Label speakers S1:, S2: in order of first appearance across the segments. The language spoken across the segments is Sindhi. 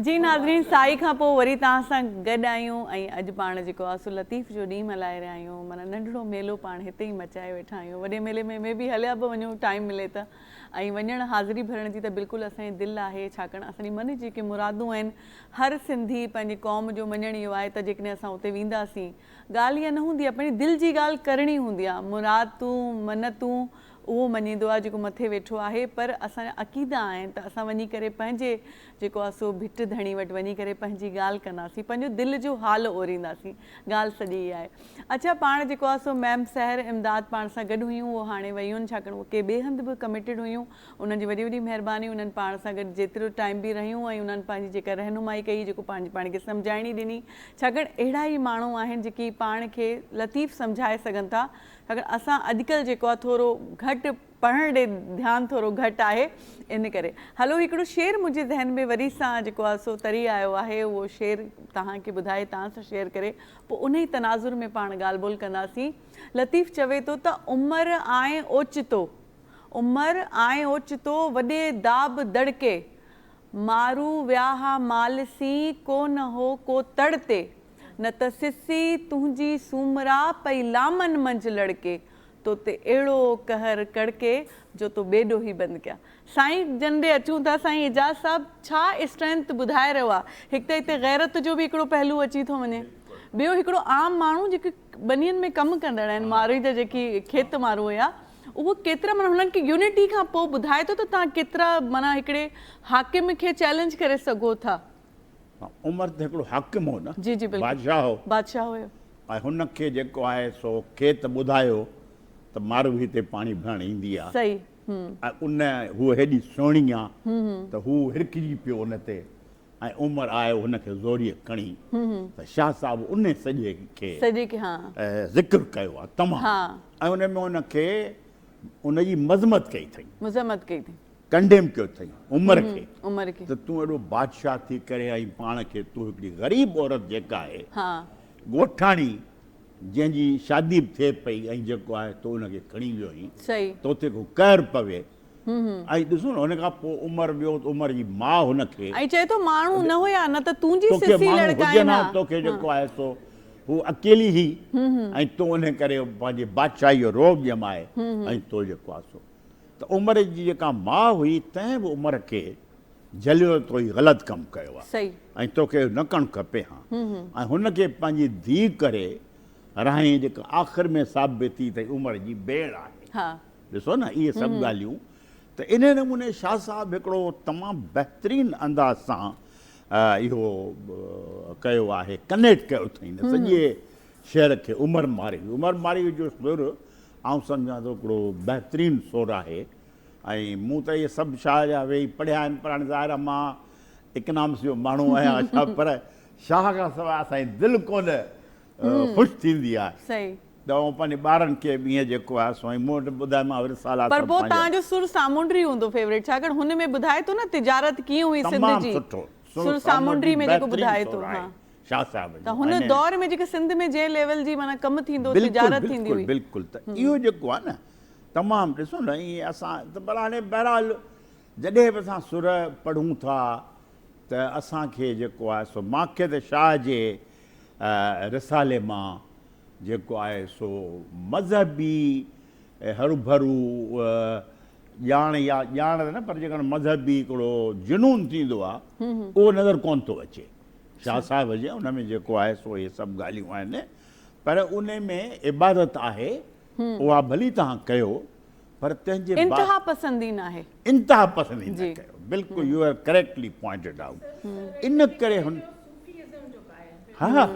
S1: جي ناظرين سائي کان پوء وري توهان سان گڏ آهيون ۽ اڄ پاڻ جيڪو آسو لطيف جو ڏينهن ملهائي رهيا آهيون معنيٰ ننڍڙو ميلو پاڻ هتي ئي مچائي ويٺا آهيون وڏي ميلي ۾ مي بي هليا به وڃون ٽائيم ملي ته ۽ وڃڻ حاضري ڀرڻ جي ته بلڪل اسان جي دل آهي ڇاڪاڻ اسان جي من جي جيڪي مرادون آهن هر سنڌي پنهنجي قوم جو مڃڻ اهو آهي ته جيڪڏهن اسان اتي وينداسين ڳالهه اها نه هوندي آهي پنهنجي دل جي ڳالهه ڪرڻي هوندي آهي مرادون منتون اهو مڃيندو آهي جيڪو مٿي ويٺو آهي پر اسان جا عقيدا آهن ته اسان وڃي ڪري پنهنجي جيڪو اسو ڀٽ ڌڻي وٽ وڃي ڪري پنهنجي ڳالهه ڪنداسين، پنهنجو دل جو حال اورينداسين. ڳالهه سڄي اها آهي. اڇا پاڻ جيڪو اسو ميم سحر امداد پاڻ سان گڏ هيون اهو هاڻي ويون ڇاڪاڻ اهو ڪي ٻئي هنڌ به ڪميٽيڊ هيون انهن جي وڏي وڏي مهرباني انهن پاڻ سان گڏ جيترو ٽائيم به رهيون ۽ انهن پنهنجي جيڪا رهنمائي ڪئي جيڪو پنهنجي پاڻ کي سمجهائڻي ڏني ڇاڪاڻ اهڙا ئي ماڻهو آهن جيڪي پاڻ کي لطيف سمجهائي سگهن ٿا ڇاڪاڻ اسان اڄڪلهه جيڪو آهي ٿورو گهٽ پڙهڻ ڏي ڌيان ٿورو گهٽ آهي ان ڪري. هلو هڪڙو شعر منهنجي ذهن ۾ وري سان جيڪو آ سو تري آيو آهي اهو شعر تهان کي ٻڌائي تهان سان شيئر ڪري پو انهي تناظر ۾ پاڻ ڳالهه ٻولهه ڪنداسين لطيف چوي ٿو ته عمر آئين اوچتو عمر آئين اوچتو وڏي داب دڙڪي مارو ويا ها مال سين ڪو نه هو ڪو تڙ تي نه ته سسي تنهنجي سومرا پئي لامن منجهه لڙڪي. تو تي اهڙو قهر ڪڙڪي جو تو ٻي ڏوهي بند ڪيا. سائين جن ڏي اچون ٿا سائين اعجاز صاحب ڇا اسٽرينٿ ٻڌائي رهيو آ هڪ ته هتي غيرت جو به هڪڙو پهلو اچي ٿو وڃي ٻيو هڪڙو عام ماڻهو جيڪي ٻنين ۾ ڪم ڪندڙ آهن مارئي جا جيڪي کيت مارو هيا اهو ڪيترا معنيٰ هنن کي يونٽي کان پوء ٻڌائي ٿو ته تهان ڪيترا معنيٰ هڪڙي حاڪم کي چئلينج ڪري سگهو ٿا. عمر
S2: ته هڪڙو حاڪم هو نه. جي جي بلڪل. بادشاهه هو.
S1: بادشاهه هيو. ۽ هن کي
S2: جيڪو آهي سو کيت ٻڌايو ته ماروي تي پاڻي ڀرڻ ايندي آ. صحيح هم.
S1: ۽ ان
S2: هوء هيڏي سهڻي آ ته هو هرکجي پيو ان تي ۽ عمر آيو هن کي زوريء کڻي ته شاهه صاحب ان سڄي کي سڄي کي ها. ذڪر ڪيو آ تمام ها. ۽ ان ۾ ان کي ان جي مذمت ڪئي ٿئي. مذمت ڪئي ٿئي.
S1: ڪنڊيم ڪيو اٿئي
S2: عمر کي ته تون ايڏو
S1: بادشاهه
S2: ٿي ڪري ۽ پاڻ کي تون هڪڙي غريب عورت جيڪا آهي ڳوٺاڻي جنهن جي شادي به ٿئي پئي ۽ جيڪو آهي تو ان کي کڻي ويو آهين تو تي ڪو
S1: قهر
S2: پوي ۽ ڏسو نه ان کان پوء عمر ويو ته عمر جي ماء هن کي ۽ چئي ٿو ماڻهو
S1: نه هيا نه ته تون جي سسي لڙڪائين ها تو کي جيڪو آهي
S2: سو هو اڪيلي هئي ۽ تو ان ڪري پنهنجي بادشاهي جو رعب ڄمائي ۽ تو جيڪو آهي سو ته عمر جي جيڪا ماء هئي تنهن به عمر کي جهليو ته تو هي غلط ڪم ڪيو آهي ۽ توکي اهو
S1: نه ڪرڻ
S2: کپي ها ۽ هن کي پنهنجي ڌيء ڪري رهائين جيڪا آخر ۾ ثابت ٿي ته هي عمر جي ڀيڻ آهي ڏسو نه اهي سڀ ڳالهيون ته انهي نموني شاهه صاحب هڪڙو تمام بهترين انداز سان اهو ڪيو آهي ڪنيڪٽ ڪيو اٿئين سڄي شعر کي عمر مارئي عمر مارئي جو سر آئون سمجهان ٿو هڪڙو بهترين سر آهي ۽ مون ته اهي سڀ شاهه جا ويهي پڙهيا آهن پر هاڻي ظاهر آهي مان اڪنامس جو ماڻهو آهيان اڇا پر شاهه کان سواء اسان جي دل ڪونه خوش ٿيندي آهي صحيح ته آئون پنهنجي ٻارن کي به ايئن جيڪو آهي سو مون وٽ ٻڌايومانء اهي رسالا سڀ پنهنجا پر پوء تهان جو سر
S1: سامونڊري هوندو فيوريٽ ڇاڪاڻ هن ۾ ٻڌائي ٿو نه تجارت ڪيئن هئي سنڌ جي تمام سٺو سر سامونڊري ۾ جيڪو ٻڌائي ٿو ها شاهه صاحب
S2: جو ته هن دور ۾ جيڪي
S1: سنڌ ۾ جنهن ليول جي معنيٰ ڪم ٿيندو هو تجارت ٿيندي هئي بلڪل بلڪل ته اهو جيڪو
S2: آهي نه تمام ڏسو نه ائين اسان ته پر هاڻي بهرحال جڏهن به اسان سر پڙهون ٿا ته اسان کي جيڪو آهي سو مانکي ته شاهه جي رسالي مان جيڪو آهي سو مذهبي هرڀرو ڄاڻ يا ڄاڻ ته نه پر جيڪڏهن مذهبي هڪڙو جنون ٿيندو آهي اهو نظر ڪونه ٿو اچي شاھ صاحب جي ان ۾ جيڪو آهي سو اهي سڀ ڳالهيون آهن پر ان ۾ عبادت آهي اها ڀلي توهان ڪيو پر تنهن جي انتها پسندي
S1: ناهي انتها پسندي نه
S2: ڪيو بلڪل you are correctly pointed out ان ڪري هن ها ها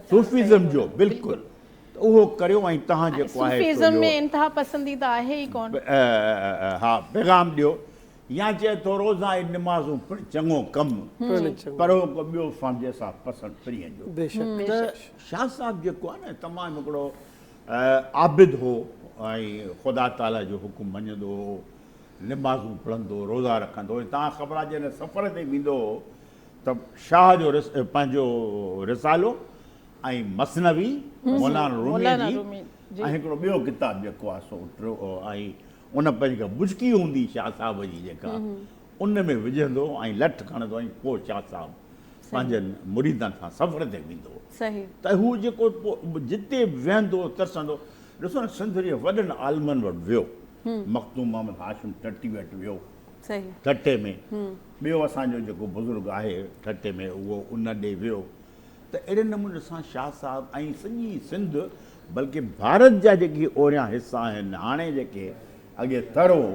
S2: صوفيزم جو بلڪل اهو ڪريو ۽ توهان جيڪو آهي صوفيزم ۾ انتها
S3: پسندي ته آهي ئي ڪون ها
S2: پيغام ڏيو يا چئي ٿو روزا ۽ نمازون پڻ چڱو ڪم، پر هو ڪو ٻيو فهم جنهن سان پسند پرين جو. ته شاهه صاحب جيڪو آهي نه تمام هڪڙو عابد هو ۽ خدا تعاليٰ جو حڪم مڃندو هو، نمازون پڙهندو هو، روزا رکندو هو ۽ توهان کي خبر آهي جڏهن سفر تي ويندو هو ته شاهه جو پنهنجو رسالو ۽ مثنوي مولانا روميء جي ۽ هڪڙو ٻيو ڪتاب جيڪو آهي سو ٽيون ۽ ان پنهنجي ڪا ٻچڪي هوندي شاهه صاحب جي جيڪا ان ۾ وجهندو ۽ لٺ کڻندو ۽ پوء شاهه صاحب پنهنجن مريدن سان سفر تي ويندو ته هو
S1: جيڪو
S2: جتي به ويهندو ترسندو ڏسو نه سنڌ جي وڏن عالمن وٽ ويو مخدوم محمد هاشم ٺٽي وٽ ويو ٺٽي
S1: ۾
S2: ٻيو اسان جو جيڪو بزرگ آهي ٺٽي ۾ اهو ان ڏي ويو ته اهڙي نموني سان شاهه صاحب ۽ سڄي سنڌ بلڪه ڀارت جا جيڪي اوريان حصا آهن هاڻي جيڪي اڳي تر هو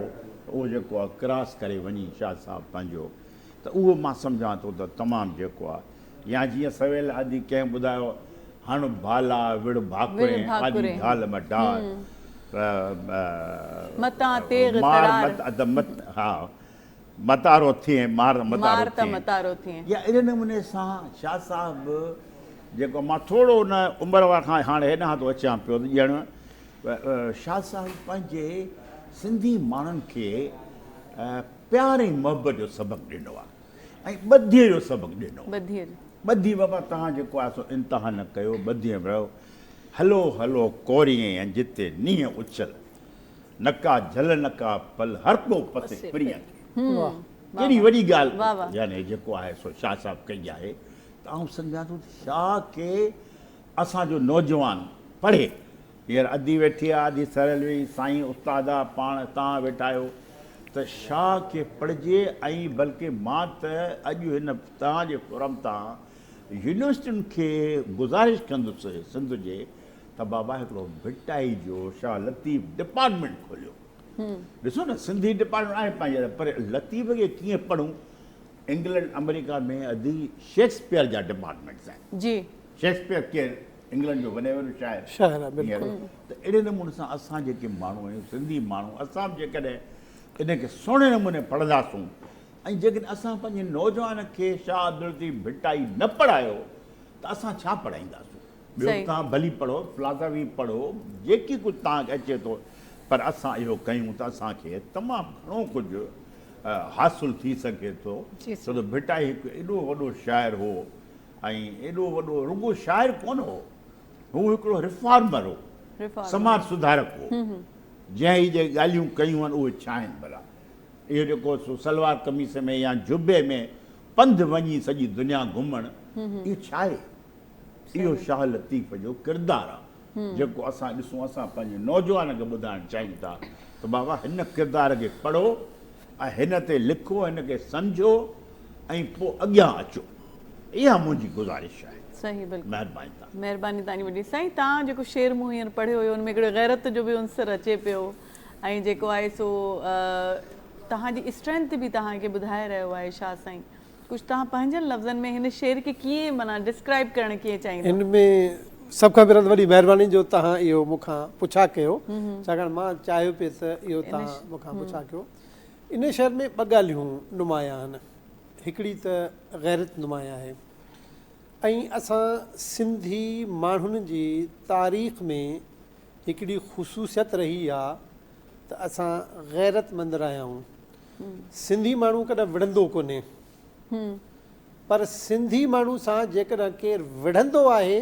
S2: ته اهو جيڪو آهي ڪراس ڪري وڃي شاهه صاحب پنهنجو ته اهو مان سمجهان ٿو ته تمام جيڪو آهي يا جيئن سويل آدي ڪنهن ٻڌايو هڻ ڀالا وڙهه ڀاڪرين آدي ڍال م ڍار
S1: متان تيغ ترار مار مت ادم
S2: مت
S1: ها
S2: متارو ٿئين، مار متارو ٿئين. مار ته متارو
S1: ٿئين.
S2: يا اهڙي
S1: نموني
S2: سان شاهه صاحب به جيڪو مان ٿورو ان عمر وارن کان هاڻي هيڏانهن ٿو اچيان پيو ته ڄڻ شاهه صاحب پنهنجي سنڌي ماڻهن کي پيار ۽ محبت جو سبق ڏنو آهي ۽ ٻڌيء جو سبق ڏنو آهي. ٻڌي
S1: بابا
S2: توهان جيڪو آهي سو انتها نه ڪيو، ٻڌيء ۾ رهو. هلو هلو ڪوريئن جتي نينهن اڇل. نڪا جھل نڪا پھل ھر ڪو پسي پرينء کي. ڪيڏي وڏي ڳالھه يعني جيڪو آھي سو شاھ صاحب ڪئي آھي ته آئون سمجھان ٿو ته شاھ کي اسان جو نوجوان پڙھي ھينئر ادي ويٺي آ ادي سھريل ويئي سائين استاد آ پاڻ تان ويٺا آھيو ته شاھ کي پڙھجي ۽ بلڪه مان ته اڄ ھن تان جي فورم تان يونيورسٽين کي گذارش ڪندس سنڌ جي ته بابا هڪڙو ڀٽائي جو شاهه لطيف ڊپارٽمينٽ کوليو ڏسو نه سنڌي ڊپارٽمينٽ آهي پنهنجي پر لطيف کي ڪيئن پڙهون انگلنڊ آمريڪا ۾ ادي شيڪسپيئر جا ڊپارٽمينٽس آهن جي شيڪسپيئر
S1: ڪير
S2: انگلنڊ جو وڏي وڏو شاعر شاعر آهي بلڪل ته اهڙي نموني سان اسان جيڪي ماڻهو آهيون سنڌي ماڻهو اسان به جيڪڏهن ان کي سهڻي نموني پڙهنداسون ۽ جيڪڏهن اسان پنهنجي نوجوان کي شاهه عبداللطيف ڀٽائي نه پڙهايو ته اسان ڇا پڙهائينداسون ٻيو به توهان ڀلي پڙهو، فلاسافي پڙهو، جيڪي ڪجهه توهان کي اچي ٿو، پر اسان اهو ڪيون ته اسان کي تمام گهڻو ڪجهه حاصل ٿي سگهي ٿو، ڇو ته ڀٽائي هڪ ايڏو وڏو شاعر هو ۽ ايڏو وڏو رڳو شاعر ڪونه هو، هو هڪڙو ريفارمر هو، سماج سڌارڪ هو، جنهن هي جيڪي ڳالهيون ڪيون آهن اهي ڇا آهن ڀلا؟ اهو جيڪو سو سلوار قميص ۾ يا جبي ۾ پنڌ وڃي سڄي دنيا گهمڻ اهو ڇا آهي؟ اهو شاهه لطيف جو ڪردار آ جيڪو اسان ڏسون اسان پنهنجي نوجوانن کي ٻڌائڻ چاهيون ٿا ته بابا هن ڪردار کي پڙهو ۽ هن تي لکو هن کي سمجهو ۽ پو اڳيان اچو اها منهنجي گذارش آهي صحيح بلڪل مهرباني
S1: تان مهرباني
S2: تاني وڏي
S1: سائين تان جيڪو شعر مون هينئر پڙهيو هيو ان ۾ هڪڙي غيرت جو به عنصر اچي پيو ۽ جيڪو آهي سو تهان جي اسٽرينٿ به تهان کي ٻڌائي رهيو آهي شاهه سائين ڪجهه توهان پنهنجن لفظن ۾ هن شعر کي ڪيئن معنيٰ ڊسڪرائيب ڪرڻ ڪيئن چاهيندا؟ ان ۾
S4: سڀ کان پهريان ته وڏي مهرباني جو توهان اهو مون کان پڇا ڪيو ڇاڪاڻ مان چاهيو پئي ته اهو توهان مون کان پڇا ڪيو. ان شعر ۾ ٻه ڳالهيون نمايان آهن هڪڙي ته غيرت نمايان آهي ۽ اسان سنڌي ماڻهن جي تاريخ ۾ هڪڙي خصوصيت رهي آهي ته اسان غيرت مند رهيا آهيون. سنڌي ماڻهو ڪڏهن وڙهندو ڪونهي پر سنڌي ماڻهو سان جيڪڏهن ڪير وڙهندو آهي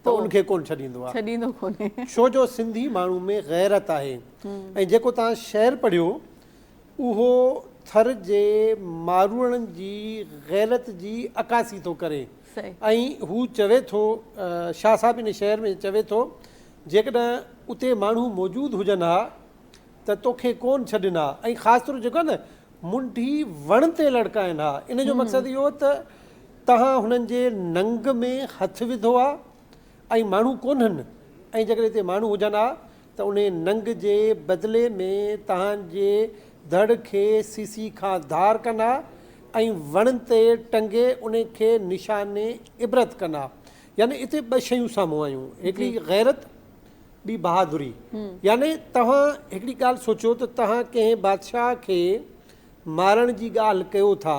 S4: ته ان کي ڪونه ڇڏيندو آهي ڇو
S1: جو سنڌي
S4: ماڻهو ۾ غيرت آهي ۽ جيڪو توهان شعر پڙهيو اهو ٿر جي ماروئڙن جي غيرت جي عڪاسي ٿو ڪري ۽ هو چوي ٿو شاهه صاحب ان شعر ۾ چوي ٿو جيڪڏهن اتي ماڻهو موجود هجن ها ته توکي ڪون ڇڏين ها ۽ خاص طور جيڪو آهي نه منڍي وڻ تي لڙڪائين ها ان جو مقصد اهو هو ته توهان هنن جي ننگ ۾ هٿ وڌو آهي ۽ ماڻهو ڪونهن ۽ جيڪڏهن هتي ماڻهو هجن ها ته انهي ننگ جي بدلي ۾ توهان جي ڌڙ کي سيسي کان ڌار ڪن ها ۽ وڻ تي ٽنگي ان کي نشان عبرت ڪن ها يعني هتي ٻه شيون سامهون آيون هڪڙي غيرت ٻي بهادري يعني توهان هڪڙي ڳالهه سوچيو ته توهان ڪنهن بادشاهه کي مارڻ جي ڳالهه ڪيو ٿا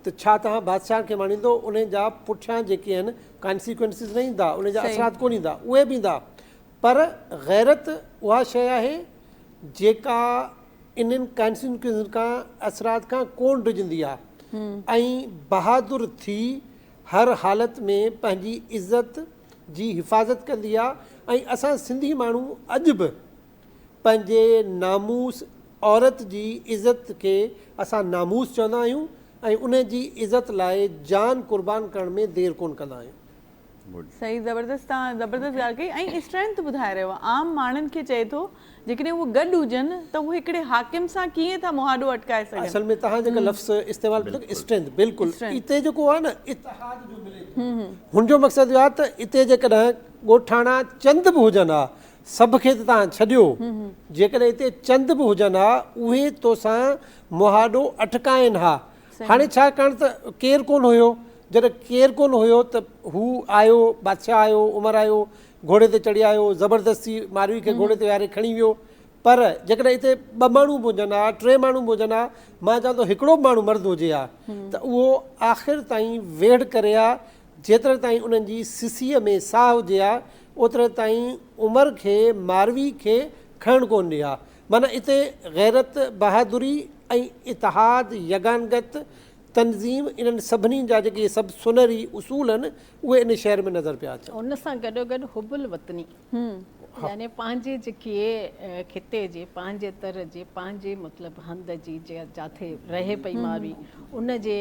S4: ته ڇا توهان بادشاهه کي ماريندو ان جا پٺيان جيڪي آهن Consequences نه ايندا ان جا اثرات ڪونه ايندا اهي به ايندا پر غيرت اها شيء آهي جيڪا انهن Consequences کان اثرات کان ڪونه ڊڄندي آهي ۽ بهادر ٿي هر حالت ۾ پنهنجي عزت جي حفاظت ڪندي آ ۽ اسان سنڌي ماڻهو اڄ به پنهنجي ناموس عورت جي عزت کي اسان ناموس چوندا آهيون ۽ ان جي عزت لاء جان قربان ڪرڻ ۾ دير ڪون ڪندا آهيون. صحيح
S1: زبردست تهان زبردست ڳالهه ڪئي ۽ اسٽرينٿ ٻڌائي رهيو عام ماڻهن کي چئي ٿو جيڪڏهن اهي گڏ هجن ته هو هڪڙي حاڪم سان ڪيئن ٿا مهاڏو اٽڪائي سگهن. اصل ۾ توهان جيڪا لفظ
S4: استعمال ڪيو ٿا اسٽرينٿ بلڪل اتي جيڪو آهي نه اتحاد جو ملي ٿو هن جو مقصد اهو آهي ته اتي جيڪڏهن ڳوٺاڻا چند به هجن ها سڀ کي ته توهان ڇڏيو جيڪڏهن اتي چند به هجن ها اهي توسان مهاڏو اٽڪائين ها هاڻي ڇا ڪرڻ ته ڪير ڪونه هيو جڏهن ڪير ڪونه هيو ته هو آيو بادشاهه آيو عمر آيو گهوڙي تي چڙهي آيو زبردستي ماروي کي گهوڙي تي ويهاري کڻي ويو پر جيڪڏهن اتي ٻه ماڻهو به هجن ها ٽي ماڻهو به هجن ها مان چوان ٿو هڪڙو به ماڻهو مرد هجي ها ته اهو آخر تائين ويڙهه ڪري ها جيتري تائين انهن جي سسيء ۾ ساهه هجي ها اوتري تائين عمر کي ماروي کي کڻڻ ڪونه ڏي ها معنيٰ اتي غيرت بهادري ۽ اتحاد يگانگت تنظيم انهن سڀني جا جيڪي سڀ سونهري اصول آهن اهي ان شعر ۾ نظر پيا اچن. ان سان گڏوگڏ حب
S3: الوطني يعني پنهنجي جيڪي خطي جي پنهنجي تر جي پنهنجي مطلب هنڌ جي جاٿي رهي پئي ماروي ان جي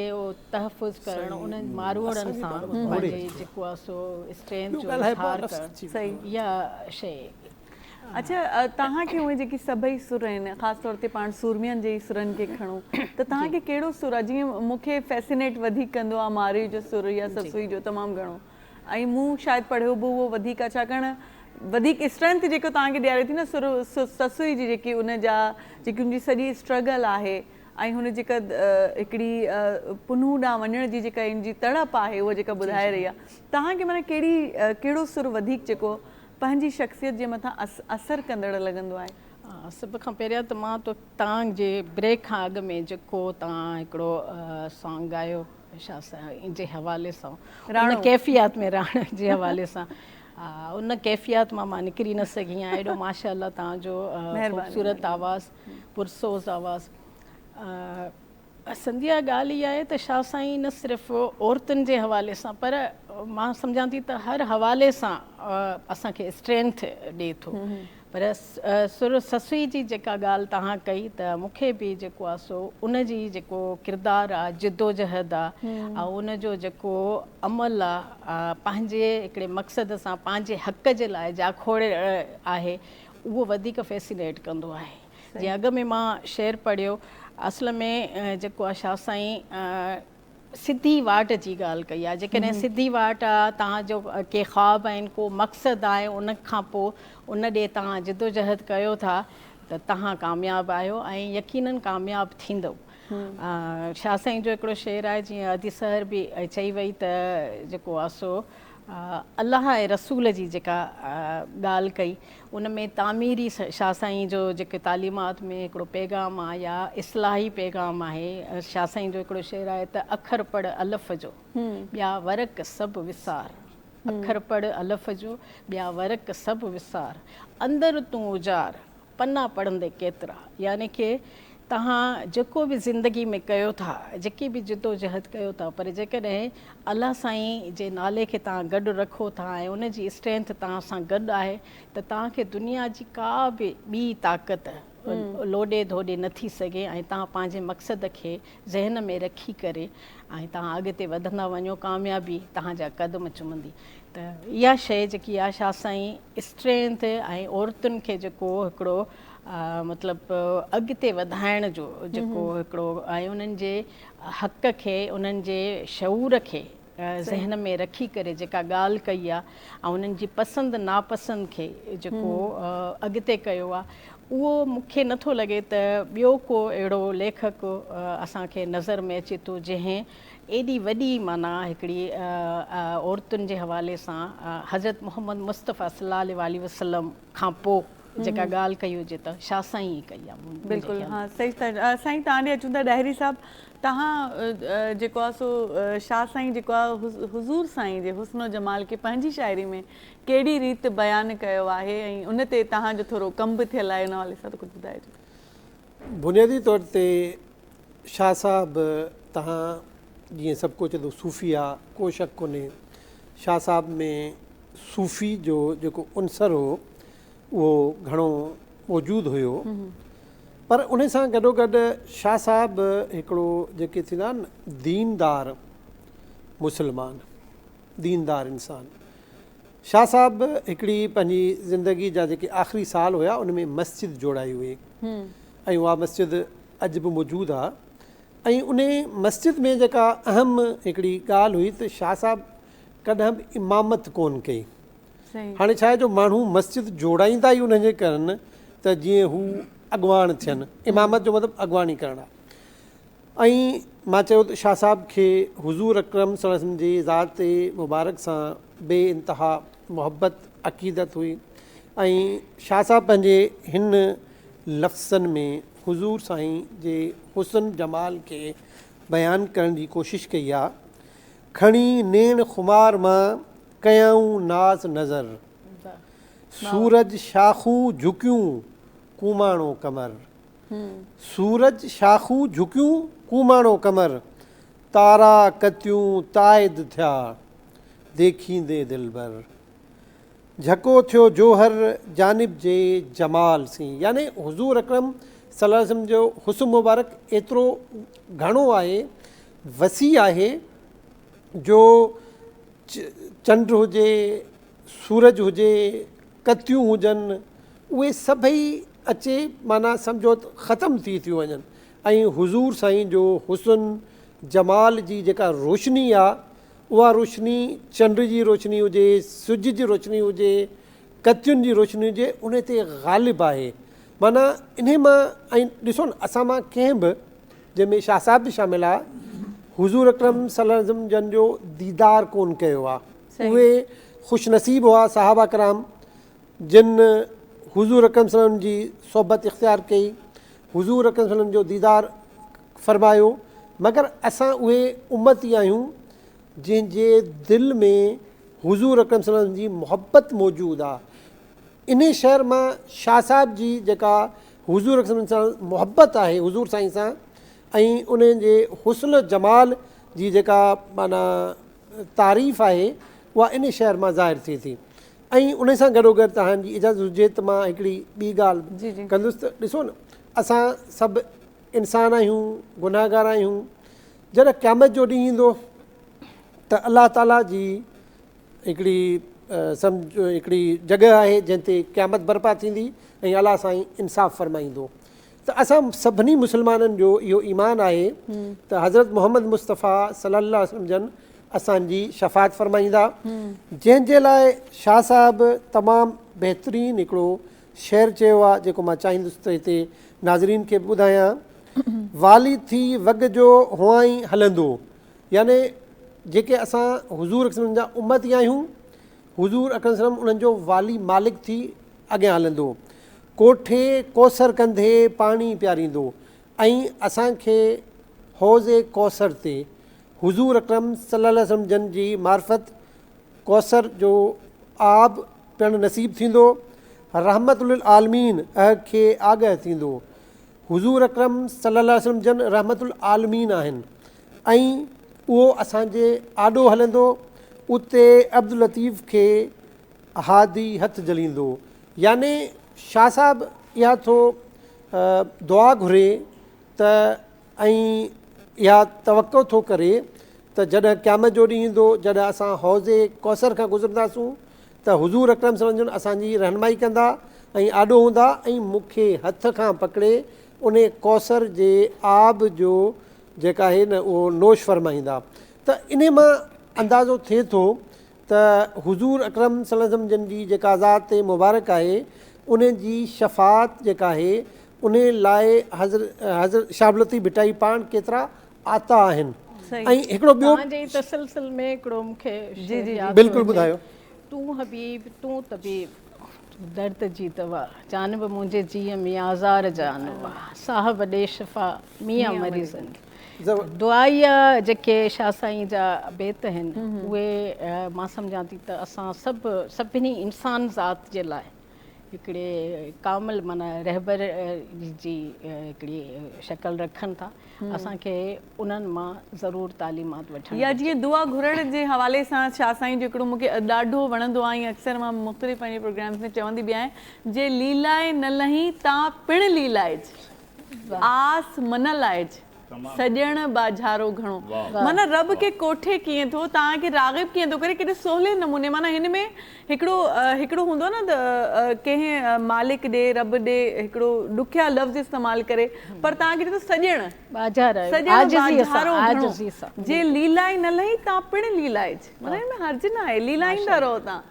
S3: تحفظ ڪرڻ انهن ماروئڙن سان پنهنجي جيڪو آ سو اسٽرينٿ جو اظهار ڪرڻ اها شيء اڇا
S1: توهان کي اهي جيڪي سڀئي سر آهن خاص طور تي پاڻ سورمين جي ئي سرن کي کڻو ته توهان کي ڪهڙو سر آهي جيئن مون کي فيسينيٽ وڌيڪ ڪندو آهي مارئي جو سر يا سسوئي جو تمام گهڻو ۽ مون شايد پڙهيو به اهو وڌيڪ آهي ڇاڪاڻ وڌيڪ اسٽرينٿ جيڪو توهان کي ڏياري ٿي نه سر سسوئي جي جيڪي ان جا جيڪي ان جي سڄي اسٽرگل آهي ۽ هن جيڪا هڪڙي پنهون ڏانهن وڃڻ جي جيڪا ان جي تڙپ آهي اها جيڪا ٻڌائي رهي آهي توهان کي معنيٰ ڪهڙي ڪهڙو سر وڌيڪ جيڪو پنهنجي شخصيت جي مٿان اثر ڪندڙ لڳندو آهي. سڀ کان پهريان
S3: ته مان تو تان جي بريڪ کان اڳ ۾ جيڪو تان هڪڙو سانگ ڳايو شاهه سائين جي حوالي سان ان ڪيفيات ۾ راڻو جي حوالي سان ان ڪيفيات مان مان نڪري نه سگهي آهيان ايڏو ماشاءالله تان جو خوبصورت آواز پرسوز آواز پسندي جا ڳالهه اها آهي ته شاهه سائين نه صرف عورتن جي حوالي سان پر مان سمجهان ٿي ته هر حوالي سان اسان کي اسٽرينٿ ڏي ٿو پر سر سسئي جي جيڪا ڳالهه توهان ڪئي ته مون کي به جيڪو آهي سو ان جي جيڪو ڪردار آهي جدوجهد آهي ۽ ان جو جيڪو عمل آهي پنهنجي هڪڙي مقصد سان پنهنجي حق جي لاء جاکوڙ آهي اهو وڌيڪ فيسينيٽ ڪندو آهي جي اڳ ۾ مان شعر پڙهيو اصل ۾ جيڪو آ شاهه سائين سڌي واٽ جي ڳالهه ڪئي آ جيڪڏهن سڌي واٽ آ توهان جو ڪي خواب آهن ڪو مقصد آهي ان کان پو ان ڏي توهان جدوجهد ڪيو ٿا ته توهان ڪامياب آهيو ۽ يقينن ڪامياب ٿيندؤ شاهه سائين جو هڪڙو شعر آهي جيئن ادي سحر به چئي وئي ته جيڪو آ سو الله ۽ رسول جي جيڪا ڳالهه ڪئي ان ۾ تعميري شاهه سائين جو جيڪي تعليمات ۾ هڪڙو پيغام آ يا اصلاحي پيغام آهي. شاهه سائين جو هڪڙو شعر آهي ته اکر پڙهه الف جو، ٻيا ورق سڀ وسار. اکر پڙهه الف جو، ٻيا ورق سڀ وسار. اندر تون اجار، پنا پڙهندي ڪيترا. يعني ڪي توهان جيڪو به زندگي ۾ ڪيو ٿا، جيڪي به جدوجهد ڪيو ٿا پر جيڪڏهن الله سائين جي نالي کي توهان گڏ رکو ٿا ۽ ان جي اسٽرينٿ توهان سان گڏ آهي ته توهان کي دنيا جي ڪا به ٻي طاقت لوڏي ڌوڏي نه ٿي سگهي ۽ توهان پنهنجي مقصد کي ذهن ۾ رکي ڪري ۽ توهان اڳتي وڌندا وڃو ڪاميابي توهان جا قدم چمندي ته اها شئي جيڪي آشا سائين اسٽرينٿ ۽ عورتن کي جيڪو هڪڙو مطلب اڳتي وڌائڻ جو جيڪو هڪڙو ۽ انهن جي حق کي انهن جي شعور کي ذهن ۾ رکي ڪري جيڪا ڳالهه ڪئي آهي ۽ انهن جي پسند ناپسند کي جيڪو اڳتي ڪيو آهي اهو مون کي نٿو لڳي ته ٻيو ڪو اهڙو ليکڪ اسان کي نظر ۾ اچي ٿو جنهن ايڏي وڏي معنيٰ هڪڙي عورتن جي حوالي سان حضرت محمد مصطفيٰ صلي الله عليه وسلم کان پوء جيڪا ڳالهه ڪئي هجي ته شاهه سائين ئي ڪئي آهي بلڪل ها صحيح
S1: ٿا سائين توهان ڏي اچون ٿا ڏاهري صاحب توهان جيڪو آهي سو شاهه سائين جيڪو آهي حضور سائين جي حسن و جمال کي پنهنجي شاعري ۾ ڪهڙي ريت بيان ڪيو آهي ۽ ان تي توهان جو ٿورو ڪم به ٿيل آهي ان حوالي سان ڪجهه ٻڌائجو بنيادي طور
S4: تي شاهه صاحب توهان جيئن سڀ ڪو چئي ٿو صوفي آ، ڪو شڪ ڪونهي شاهه صاحب ۾ صوفي جو جيڪو عنصر هو اهو گهڻو موجود هيو پر ان سان گڏوگڏ شاهه صاحب هڪڙو جيڪي ٿيندا آهن ديندار مسلمان ديندار انسان شاهه صاحب هڪڙي پنهنجي زندگي جا جيڪي آخري سال هيا ان ۾ مسجد جوڙائي هئي ۽ اها مسجد اڄ به موجود آ ۽ انهي مسجد ۾ جيڪا اهم هڪڙي ڳالهه هئي ته شاهه صاحب ڪڏهن به امامت ڪون ڪئي. هاڻي ڇا آهي جو ماڻهو مسجد جوڙائيندا ئي انهن جي ڪرن ته جيئن هو اڳواڻ ٿين. امامت جو مطلب اڳواڻي ڪرڻ آهي. ۽ مان چيو ته شاهه صاحب کي حضور اڪرم صلي وسلم جي ذات مبارڪ سان بي انتها محبت عقيدت هئي ۽ شاهه صاحب پنهنجي هن لفظن ۾ حضور سائين جي حسن جمال کي بيان ڪرڻ جي ڪوشش ڪئي آ. کڻي نيڻ خمار مان ڪيائون ناز نظر. سورج شاخون جهڪيون ڪوماڻو ڪمر. سورج شاخون جهڪيون ڪوماڻو ڪمر. تارا ڪتيون تائيد ٿيا ديکيندي دلبر. جهڪو ٿيو جوهر جانب جي جمال سين يعني حضور اڪرم صلي الله عليه وسلم جو حسن مبارڪ ايترو گهڻو آهي وسيع آهي جو چنڊ هجي سورج هجي ڪتيون هجن اهي سڀئي اچي معنيٰ سمجهو ختم ٿي ٿيون وڃن ۽ حضور سائين جو حسن جمال جي جيڪا روشني آهي اها روشني چنڊ جي روشني هجي، سج جي روشني هجي، ڪتين جي روشني هجي انهي تي غالب آهي. معنيٰ انهي مان ۽ ڏسو نه اسان مان ڪنهن به جنهن ۾ شاهه صاحب به شامل آ حضور اڪرم صلي الله عليه وسلم جن جو ديدار ڪون ڪيو آ. اهي خوش نصيب هئا صحابه ڪرام جن حضور اڪرم صلي الله عليه وسلم جي صحبت اختيار ڪئي حضور اڪرم صلعم جو ديدار فرمايو مگر اسان اهي امتي آهيون جنهن جي دل ۾ حضور اڪرم صلعم جي محبت موجود آ انهي شعر مان شاهه صاحب جي جيڪا حضور اڪرم صلعم سان محبت آهي حضور سائين سان ۽ انهن جي حسن جمال جي جيڪا معنيٰ تعريف آهي اها انهي شعر مان ظاهر ٿئي ٿي ۽ انهي سان گڏوگڏ توهان جي اجازت هجي ته مان هڪڙي ٻي ڳالهه ڪندس ته ڏسو نه اسان سڀ انسان آهيون گنهگار آهيون جڏهن قيامت جو ڏينهن ايندو ته الله تعالي جي هڪڙي سمجهه هڪڙي جڳهه آهي جنهن تي قيامت برپا ٿيندي ۽ الله سائين انصاف فرمائيندو ته اسان سڀني مسلمانن جو اهو ايمان آهي ته حضرت محمد مصطفيٰ صلي الله عليه وسلم جن اسان جي شفاعت فرمائيندا جنهن جي لاء شاهه صاحب تمام بهترين هڪڙو شعر چيو آهي جيڪو مان چاهيندس ته هتي ناظرين کي به ٻڌايان والي ٿي وڳ جو هئائين هلندو يعني جيڪي اسان حضور اڪرم صلي الله عليه وسلم جا امتي آهيون حضور اڪرم صلي الله عليه وسلم انهن جو والي مالڪ ٿي اڳيان هلندو ڪوٺي ڪوثر ڪنڌي پاڻي پياريندو ۽ اسان کي حوض ڪوثر تي حضور اڪرم صلي الله عليه وسلم جن جي معرفت ڪوثر جو آب پيڻ نصيب ٿيندو رحمت للعالمين اھ کي آگھ ٿيندو حضور اڪرم صلي الله عليه وسلم جن رحمت العالمين آھن ۽ اھو اسان جي آڏو ھلندو اتي عبداللطيف کي احادي هٿ جليندو. يعني شاهه صاحب اها ٿو دعا گهري ته ۽ اها توقع ٿو ڪري ته جڏهن قيامت جو ڏينهن ايندو جڏهن اسان حوض ڪوثر کان گذرنداسون ته حضور اڪرم صلعم جون اسان جي رهنمائي ڪندا ۽ آڏو هوندا ۽ مون کي هٿ کان پڪڙي انهي ڪوثر جي آب جو جيڪا آهي نه اهو نوش فرمائيندا ته انهي مان اندازو ٿئي ٿو ته حضور اڪرم صلي الله عليه وسلم جن جي جيڪا ذات مبارڪ آهي انهي جي شفاعت جيڪا آهي انهي لاء حضرت حضرت شهاب العطيف ڀٽائي پاڻ ڪيترا آتا آهن ۽ هڪڙو ٻيو توهان جي ئي تسلسل ۾
S3: هڪڙو مون کي شعر ياد ٿو بلڪل
S4: ٻڌايو. تون حبيب
S3: تون طبيب تون درد جي دوا جانب منهنجي جيء ۾ آزار جانوا صاحب ڏي شفا ميان مري زنگ دعائيا جيڪي شاھ سائين جا بيت اھن اھي مان سمجھان ٿي ته اسان سڀ سڀني انسان ذات جي لاء ھڪڙي ڪامل معنيٰ رھبر جي ھڪڙي شڪل رکن ٿا اسان کي انھن مان ضرور تعليمات وٺڻ گھرجي. يا جيئن دعا گھرڻ
S1: جي حوالي سان شاھ سائين جو ھڪڙو مون کي ڏاڍو وڻندو آھي ۽ اڪثر مان مختلف پنھنجي پروگرامز ۾ چوندي به آھيان جي ليلائي نه لھين تان پڻ ليلائج. آس منه لائج سڄڻ ٻاجهارو گهڻو. معنيٰ رب کي ڪوٺي ڪيئن ٿو توهان کي راغب ڪيئن ٿو ڪري ڪيڏي سولي نموني معنيٰ هن ۾ هڪڙو هڪڙو هوندو آهي نه ته ڪنهن مالڪ ڏي رب ڏي هڪڙو ڏکيا لفظ استعمال ڪري پر توهان کي ڏنو سڄڻ سڄڻ ٻاجهارو گهڻو جي ليلائي نه لهي تان پڻ ليلائج معنيٰ هن ۾ حرج ناهي ليلائيندا رهو توهان.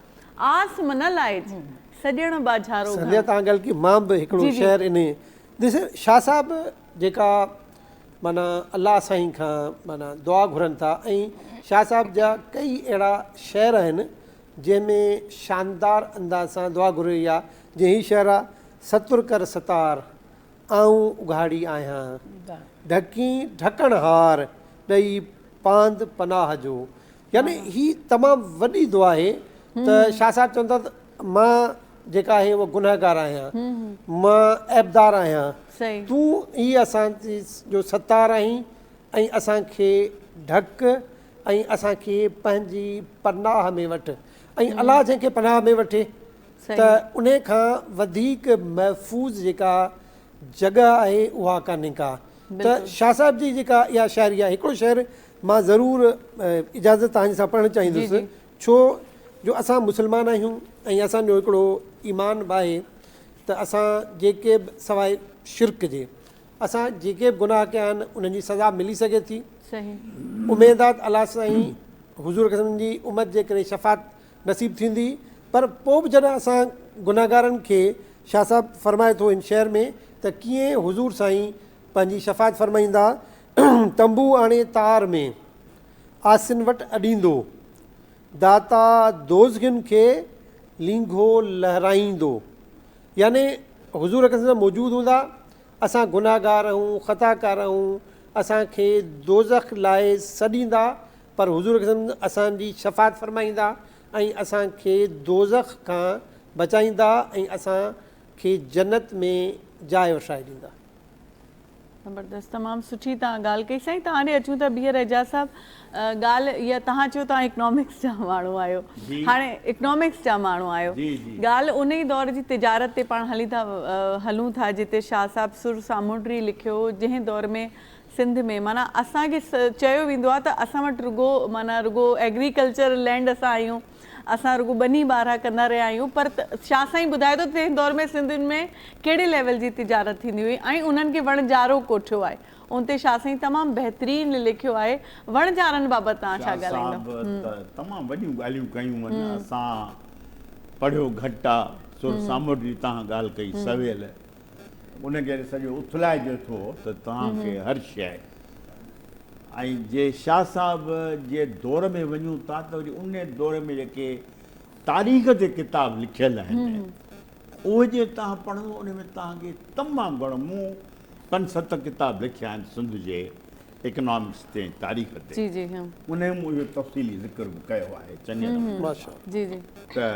S1: آس منه لائج، سڄڻ ٻاجهارو گهڻ. سنڌيء تان گل ڪي
S4: مان به هڪڙو شعر انهي ڏس شاهه صاحب جيڪا معنيٰ الله سائين کان معنيٰ دعا گهرن ٿا ۽ شاهه صاحب جا ڪئي اهڙا شعر آهن جنهن ۾ شاندار انداز سان دعا گهري وئي آهي جيئن هي شعر آهي ستر ڪر ستار آئون اگهاڙي آهيان ڍڪين ڍڪڻهار ڏئي پاند پناهه جو يعني هي تمام وڏي دعا آهي ته شاهه صاحب چون ٿا ته مان جيڪا آهي اهو گنهگار آهيان مان عيبدار آهيان تون ئي اسان جو ستار آهين ۽ اسان کي ڍڪ ۽ اسان کي پنهنجي پناهه ۾ وٺ ۽ الله جنهن کي پناهه ۾ وٺي ته انهي کان وڌيڪ محفوظ جيڪا جڳهه آهي اها ڪانهي ڪا ته شاهه صاحب جي جيڪا اها شاعري آهي هڪڙو شعر مان ضرور اجازت توهان جي سان پڙهڻ چاهيندس ڇو جو اسان مسلمان آهيون ۽ اسان جو هڪڙو ايمان به آهي ته اسان جيڪي به سواء شرڪ جي اسان جيڪي به گناهه ڪيا آهن انهن جي سزا ملي سگهي ٿي اميد آ ته الله سائين حضور جي امت جي ڪري شفاعت نصيب ٿيندي پر پوء به جڏهن اسان گنهگارن کي شاهه صاحب فرمائي ٿو هن شهر ۾ ته ڪيئن حضور سائين پنهنجي شفاعت فرمائيندا تنبو آڻي تار ۾ عاصين وٽ اڏيندو داتا دوزخين کي لينگهو لهرائيندو يعني حضور اڪرم صلي موجود هوندا اسان گنهگار آهيون خطاڪار آهيون اسان کي دوزخ لاء سڏيندا پر حضور اڪرم اسان جي شفاعت فرمائيندا ۽ اسان کي دوزخ کان بچائيندا ۽ اسان کي جنت ۾ جاء وٺرائي ڏيندا.
S1: زبردست تمام سٺي توهان ڳالھ ڪئي سائين توهان ڏي اچون ٿا ٻيهر اعجاز صاحب ڳالھ اها توهان چيو توهان اڪنامڪس جا ماڻهو آهيو هاڻي اڪنامڪس جا ماڻهو آهيو ڳالھ ان ئي دور جي تجارت تي پاڻ هلي ٿا هلون ٿا جتي شاهه صاحب سر سامونڊري لکيو جنهن دور ۾ سنڌ ۾ معنيٰ اسان کي چيو ويندو آهي ته اسان وٽ رڳو معنيٰ رڳو ايگريڪلچر لينڊ اسان آهيون اسان رڳو ٻني ٻارها ڪندا رهيا آهيون پر شاهه سائين ٻڌائي ٿو ته تنهن دور ۾ سنڌ ۾ ڪهڙي ليول جي تجارت ٿيندي هئي ۽ انهن کي وڻجارو ڪوٺيو آهي ان تي شاهه سائين تمام بهترين لکيو آهي وڻجارن بابت توهان ڇا ڳالهائيندا شاهه صاحب ته تمام وڏيون
S2: ڳالهيون ڪيون هن اسان پڙهيو گهٽ آهي سر ساموڊ جي تهان ڳالهه ڪئي سويل ان ڪري سڄو اٿلائجي ٿو ته توهان کي هر شيء ۽ جي شاهه صاحب جي دور ۾ وڃون ٿا ته وري ان دور ۾ جيڪي تاريخ تي ڪتاب لکيل آهن اهي جي توهان پڙهندو ان ۾ توهان کي تمام گهڻو مون پنج ست ڪتاب لکيا آهن سنڌ جي اڪنامڪس تي ۽ تاريخ تي جي جي هان ان مون اهو تفصيلي ذڪر به ڪيو آهي چڱي نموني جي جي ته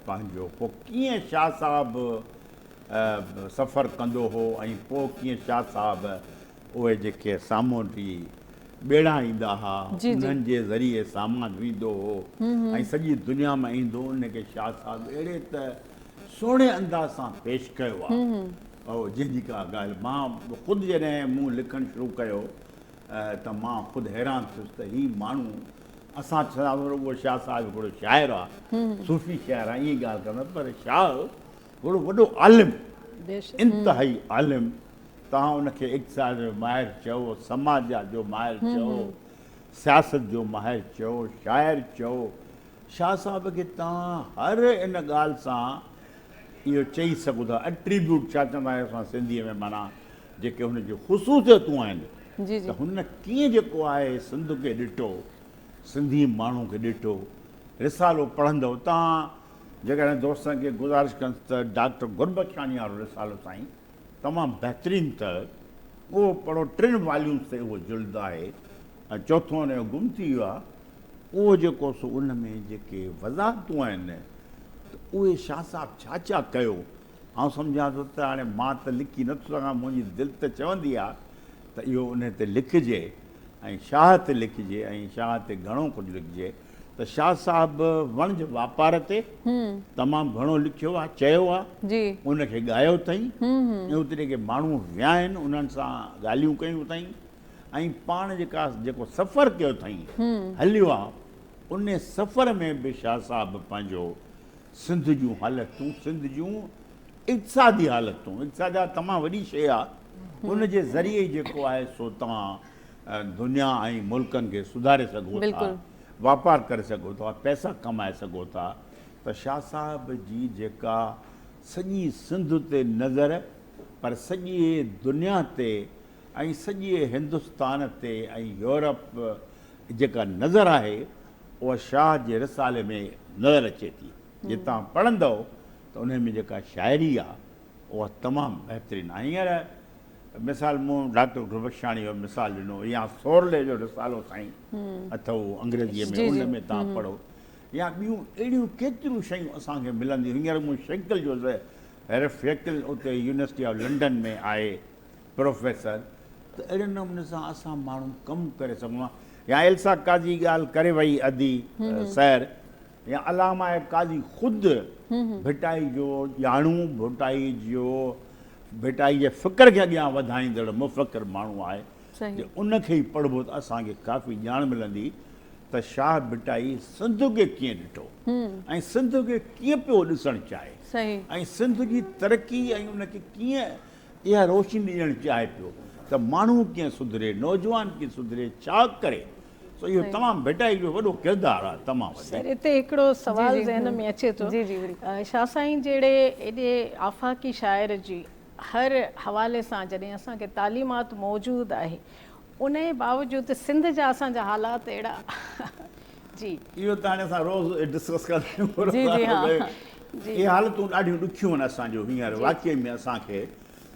S2: پنهنجو پوء ڪيئن شاهه صاحب سفر ڪندو هو ۽ پوء ڪيئن شاهه صاحب اهي جيڪي سامونڊي ٻيڙا ايندا ها انهن جي ذريعي سامان ويندو هو ۽ سڄي دنيا مان ايندو هو ان کي شاهه صاحب اهڙي ته سهڻي انداز سان پيش ڪيو آهي جنهن جي ڪا ڳالهه مان خود جڏهن مون لکڻ شروع ڪيو ته مان خود حيران ٿيس ته هي ماڻهو اسان ڇا ورو شاهه صاحب هڪڙو شاعر آهي صوفي شاعر آهي ائين ڳالهه ڪندا پر شاهه گهڻو وڏو عالم انتهائي عالم توهان ان کي اقتصاد جو ماهر چئو سماجيات جو ماهر چئو سياست جو ماهر چئو شاعر چئو شاهه صاحب کي توهان هر ان ڳالهه سان اهو چئي سگهو ٿا اٽريبيوٽ ڇا چوندا آهيو اسان سنڌي ۾ معنيٰ جيڪي هن جون خصوصيتون آهن ته هن ڪيئن جيڪو آهي سنڌ کي ڏٺو سنڌي ماڻهو کي ڏٺو رسالو پڙهندو توهان جيڪڏهن دوستن کي گذارش ڪنس ته ڊاڪٽر گربخشاڻي وارو رسالو سائين تمام بهترين ته اهو پڙهو ٽن واليونس تي اهو جلد آهي ۽ چوٿون هن جو گم ٿي ويو آهي اهو جيڪو سو ان ۾ جيڪي وضاحتون آهن ته اهي شاهه صاحب ڇا ڇا ڪيو آئون سمجهان ٿو ته هاڻي مان ته لکي نه ٿو سگهان منهنجي دل ته چوندي آهي ته اهو ان تي لکجي ۽ شاهه تي لکجي ۽ شاهه تي گهڻو ڪجهه لکجي ته شاهه صاحب وڻج واپار تي تمام گهڻو لکيو آهي، چيو آهي، ان کي ڳايو
S1: اٿئي
S2: ۽ اتي جيڪي ماڻهو ويا آهن انهن سان ڳالهيون ڪيون اٿئي ۽ پاڻ جيڪا جيڪو سفر ڪيو اٿئي هليو آهي ان سفر ۾ به شاهه صاحب پنهنجو سنڌ جون حالتون سنڌ جون اقتصادي حالتون اقتصاد تمام وڏي شيء آهي ان جي ذريعي جيڪو آهي سو تان دنيا ۽ ملڪن کي سڌاري سگهو ٿا، واپار ڪري سگهو ٿا، پئسا ڪمائي سگهو ٿا ته شاهه صاحب جي جيڪا سڄي سنڌ تي نظر پر سڄي دنيا تي ۽ سڄي هندستان تي ۽ يورپ جيڪا نظر آهي اها شاهه جي رسالي ۾ نظر اچي ٿي جي توهان پڙهندؤ ته انهي ۾ جيڪا شاعري آهي اها تمام بهترين آهي هينئر مثال مون ڊاڪٽر گلبخشاڻي جو مثال ڏنو يا سورلي جو رسالو سائين اٿئو انگريزيء ۾ ان ۾ تان پڙهو يا ٻيون اهڙيون ڪيتريون شيون اسان کي ملنديون هينئر مون شيڪل جو هيرف شيڪل اتي يونيورسٽي آف لنڊن ۾ آهي پروفيسر ته اهڙي نموني سان اسان ماڻهو ڪم ڪري سگهون ها يا ايلسا قاضي ڳالهه ڪري وئي ادي سير يا علامه قاضي خود ڀٽائي جو ڄاڻو، ڀٽائي جو ڀٽائي جي فڪر کي اڳيان وڌائيندڙ مفڪر ماڻهو آهي، جي ان کي ئي پڙهبو ته اسان کي ڪافي ڄاڻ ملندي ته شاهه ڀٽائي سنڌ کي ڪيئن ڏٺو ۽ سنڌ کي ڪيئن پيو ڏسڻ چاهي ۽ سنڌ جي ترقي ۽ ان کي ڪيئن اها روشني ڏيڻ چاهي پيو ته ماڻهو ڪيئن سڌري، نوجوان ڪيئن سڌري، ڇا ڪري؟ سو اهو تمام ڀٽائي جو وڏو ڪردار آهي تمام وڏو. سر اتي هڪڙو
S3: سوال ذهن ۾ اچي ٿو شاهه سائين جهڙي ايڏي آفاقي شاعر جي هر حوالي سان جڏهن اسان کي تعليمات موجود آهي انهي باوجود سنڌ جا اسان جا حالات اهڙا جي. اهو ته هاڻي اسان
S2: روز ڊسڪس ڪندا آهيون اهي حالتون ڏاڍيون ڏکيون آهن اسان جو هينئر واقعي ۾ اسان کي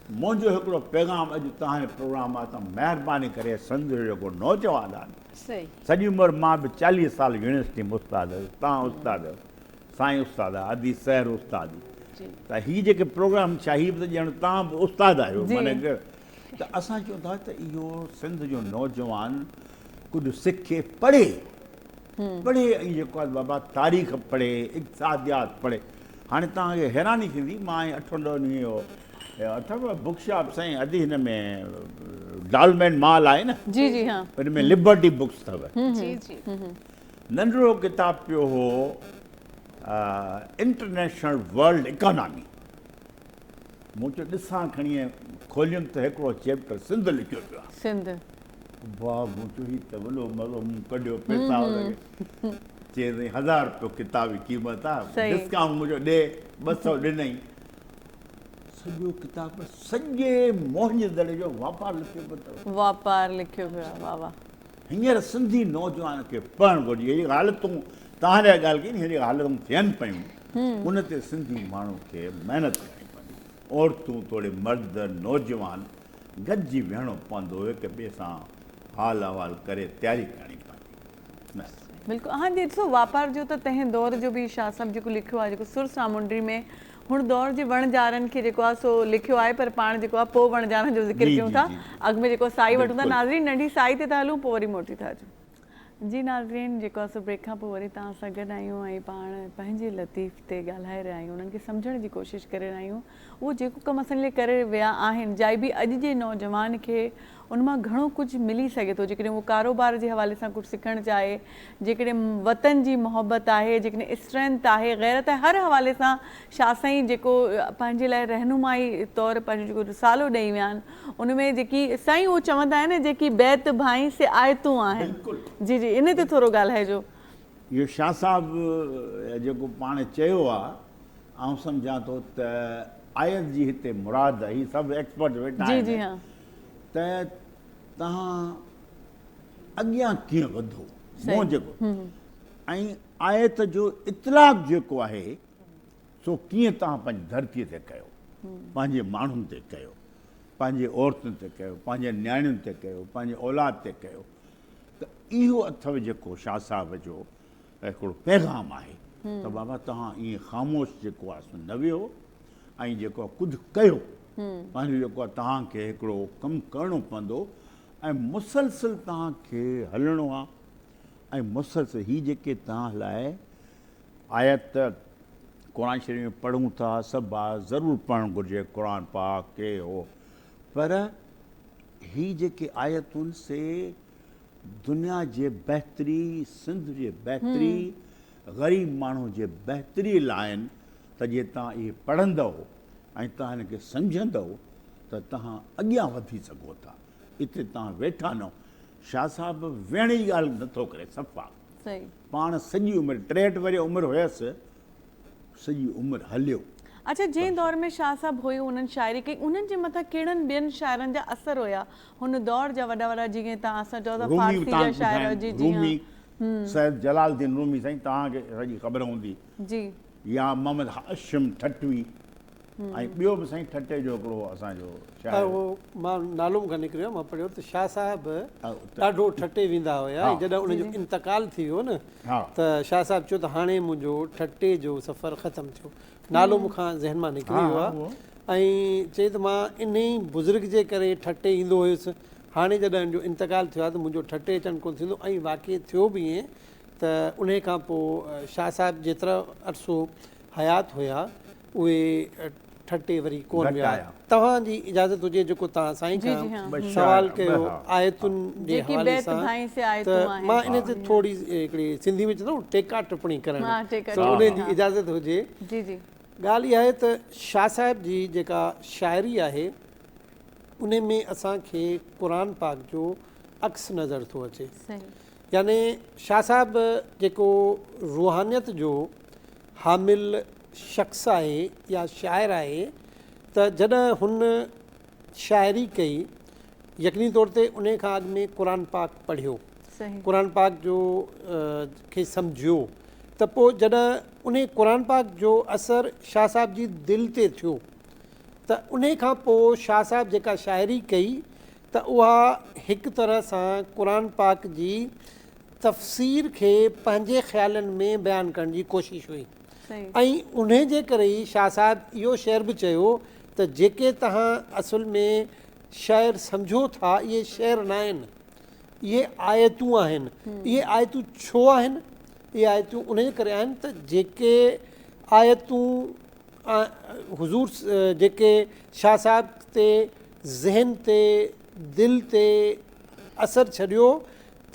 S2: منهنجو هڪڙو پيغام اڄ توهان جي پروگرام مان ته مهرباني ڪري سنڌ جو جيڪو نوجوان آهي سڄي عمر مان به چاليهه سال يونيورسٽي ۾ استاد هيس توهان استاد آهيو سائين استاد ادي سحر استاد ته هي جيڪي پروگرام ڇا هي به ته ڄڻ توهان به استاد آهيو ته اسان چون ٿا ته اهو سنڌ جو نوجوان ڪجهه سکي پڙهي پڙهي ۽ جيڪو آهي بابا تاريخ پڙهي اقتصاديات پڙهي هاڻي توهان کي حيراني ٿيندي مان ائين اٺن ڏهن ڏينهن اهو اٿم بوڪ شاپ سائين ادي هن ۾ ڊالمين مال آهي نه جي جي ها ان ۾ لبرٽي بوڪس اٿو جي جي ننڍڙو ڪتاب پيو هو انٽرنيشنل ورلڊ اڪانامي مون چيو ڏسان کڻي ۽ کوليم ته هڪڙو چيپٽر سنڌ لکيو پيو آهي. سنڌ.
S1: واء
S2: مون چيو هي ته وڏو مزو مون ڪڍيو پيسا لڳي چيس ۽ هزار روپيو ڪتاب جي قيمت آهي ڊسڪائونٽ مون چيو ڏي ٻه سئو ڏنائين سڄو ڪتاب سڄي موهن جي دڙي جو واپار لکيو پيو اٿو واپار لکيو
S1: پيو آهي واء واء. هينئر سنڌي نوجوان
S2: کي پڙهڻ گهرجي. اهڙي حالتون توهان جا ڳالهه ڪئي ني اهڙي حالتون ٿين پيون ان تي سنڌي ماڻهو کي محنت ڪرڻي پوندي. عورتون توڙي مرد نوجوان گڏجي ويهڻو پوندو هڪ ٻئي سان حال احوال ڪري تياري ڪرڻي پوندي. بس. بلڪل هاڻ جي
S1: ڏسو واپار جو ته تنهن دور جو به شاهه صاحب جيڪو لکيو آهي جيڪو سر سامونڊي ۾ هن دور جي وڻ جارن کي جيڪو آهي سو لکيو آهي پر پاڻ جيڪو آهي پوء وڻ جارن جو ذڪر ڪيون ٿا اڳ ۾ جيڪو سائي وٺون ٿا ناظرين ننڍي سائي تي ٿا هلون پوء وري موٽي ٿا اچون. جي ناظرين جيڪو آهي سو بريڪ کان پوء وري توهان سان گڏ آهيون ۽ پاڻ پنهنجي لطيف تي ڳالهائي رهيا آهيون انهن کي سمجهڻ جي ڪوشش ڪري رهيا آهيون اهو جيڪو ڪم اسان جي لاء ڪري ويا آهن جاء به اڄ جي نوجوان کي ان مان گهڻو ڪجهه ملي سگهي ٿو جيڪڏهن هو ڪاروبار جي حوالي سان ڪجهه سکڻ چاهي جيڪڏهن وطن جي محبت آهي جيڪڏهن اسٽرينٿ آهي غيرت آهي هر حوالي سان شاهه سائين جيڪو پنهنجي لاء رهنمائي طور پنهنجو جيڪو رسالو ڏئي ويا آهن ان ۾ جيڪي سائين اهو چوندا آهن نه جيڪي بيت ڀائين سي آيتون آهن جي جي ان تي ٿورو ڳالهائجو. اهو شاهه
S2: صاحب جيڪو پاڻ چيو آهي آئون سمجهان ٿو ته آيت جي هتي مراد هي سڀ ايڪسپرٽ ويٺا آهن ته توهان اڳيان ڪيئن وڌو مون جيڪو ۽ آيت جو اطلاق جيڪو آهي سو ڪيئن توهان پنهنجي ڌرتي تي ڪيو پنهنجي ماڻهن تي ڪيو پنهنجي عورتن تي ڪيو پنهنجي نياڻين تي ڪيو پنهنجي اولاد تي ڪيو ته اهو اٿو جيڪو شاهه صاحب جو هڪڙو پيغام آهي ته بابا توهان ائين خاموش جيڪو آهي سو نه ويهو ۽ جيڪو آهي ڪجهه ڪيو پنهنجو جيڪو آهي توهان کي هڪڙو ڪم ڪرڻو پوندو ۽ مسلسل توهان کي هلڻو آهي ۽ مسلسل هي جيڪي توهان لاء آيت قرآن شريف ۾ پڙهون ٿا سڀ ضرور پڙهڻ گهرجي قرآن پاڪ کي هو پر هي جيڪي آيتون سي دنيا جي بهتري، سنڌ جي بهتري، غريب ماڻهو جي بهتري لاء آهن ته جي توهان اهي پڙهندؤ ۽ توهان هن کي سمجهندؤ ته توهان اڳيان وڌي سگهو ٿا. اتي توهان ويٺا نو شاهه صاحب ويهڻ جي ڳالهه نه ٿو ڪري صفا. پاڻ
S1: سڄي
S2: عمر ٽيهٺ ورهيه عمر هيس سڄي عمر هليو. اڇا جنهن دور
S1: ۾ شاهه صاحب هيو انهن شاعري ڪئي انهن جي مٿان ڪهڙن ٻين شاعرن جا اثر هيا هن دور جا وڏا وڏا جيئن توهان اسان چئو ٿا رومي فارسي جا شاعر اتان جي جي رومي هان
S2: سيد جلال الدين رومي سائين توهان کي سڄي خبر هوندي جي يا
S1: محمد
S2: هاشم ٺٽوي ۽ ٻيو به سائين ٺٽي جو هڪڙو اسان جو شاعر اهو مان
S4: نالو مون کان نڪري ويو مان پڙهيو ته شاهه صاحب ڏاڍو ٺٽي ويندا هيا ۽ جڏهن ان جو انتقال ٿي ويو نه ته شاهه صاحب چيو ته هاڻي منهنجو ٺٽي جو سفر ختم ٿيو نالو مون کان ذهن مان نڪري ويو آهي ۽ چئي ته مان انهي بزرگ جي ڪري ٺٽي ايندو هيس، هاڻي جڏهن هن جو انتقال ٿيو آهي ته منهنجو ٺٽي اچڻ ڪونه ٿيندو ۽ واقعي ٿيو به ائين ته انهي کان پوء شاهه صاحب جيترو عرصو حيات هيا اهي ٺٽي وري ڪونه ويا. توهان جي اجازت هجي جيڪو توهان سائين کان سوال ڪيو آيتن جي حوالي سان ته مان ان تي ٿوري هڪڙي سنڌي ۾ چوندو آهيان ٽيڪا ٽپڻي ڪرڻ سو ان جي اجازت هجي
S1: ڳالهه اها آهي ته
S4: شاهه صاحب جي جيڪا شاعري آهي ان ۾ اسان کي قرآن پاڪ جو عڪس نظر ٿو اچي يعني شاهه صاحب جيڪو روحانيت جو حامل شخص آهي يا شاعر آهي ته جڏهن هن شاعري ڪئي يقيني طور تي انهي کان اڳ ۾ قرآن پاڪ پڙهيو قرآن پاڪ جو کي سمجهيو ته پوء جڏهن انهي قرآن پاڪ جو اثر شاهه صاحب جي دل تي ٿيو ته انهي کان پوء شاهه صاحب جيڪا شاعري ڪئي ته اها هڪ طرح سان قرآن پاڪ جي تفسير کي پنهنجي خيالن ۾ بيان ڪرڻ جي ڪوشش هئي ۽ انهي جي ڪري ئي شاهه صاحب اهو شعر به چيو ته جيڪي توهان اصل ۾ شعر سمجهو ٿا اهي شعر ناهن اهي آيتون آهن اهي آيتون ڇو آهن اهي آيتون انهي جي ڪري آهن ته جيڪي آيتون حضور جيڪي شاهه صاحب تي ذهن تي دل تي اثر ڇڏيو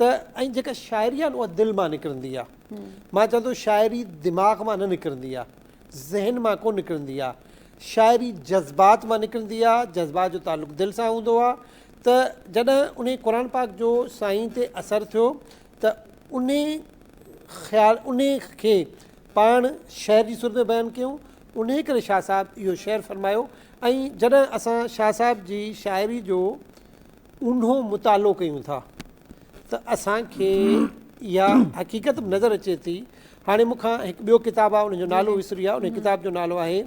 S4: ته ۽ جيڪا شاعري آهي نه اها دل مان نڪرندي آهي مان چوان ٿو شاعري دماغ مان نه نڪرندي آهي ذهن مان ڪو نڪرندي آهي شاعري جذبات مان نڪرندي آهي جذبات جو تعلق دل سان هوندو آهي ته جڏهن ان قرآن پاڪ جو سائين تي اثر ٿيو ته ان خيال ان کي پاڻ شعر جي صورت ۾ بيان ڪيون ان ڪري شاهه صاحب اهو شعر فرمايو ۽ جڏهن اسان شاهه صاحب جي شاعري جو اونهو مطالعو ڪيون ٿا ته اسان کي اها حقيقت به نظر اچي ٿي. هاڻي مون کان هڪ ٻيو ڪتاب آهي ان جو نالو وسري ويو آهي. انهي ڪتاب جو نالو آهي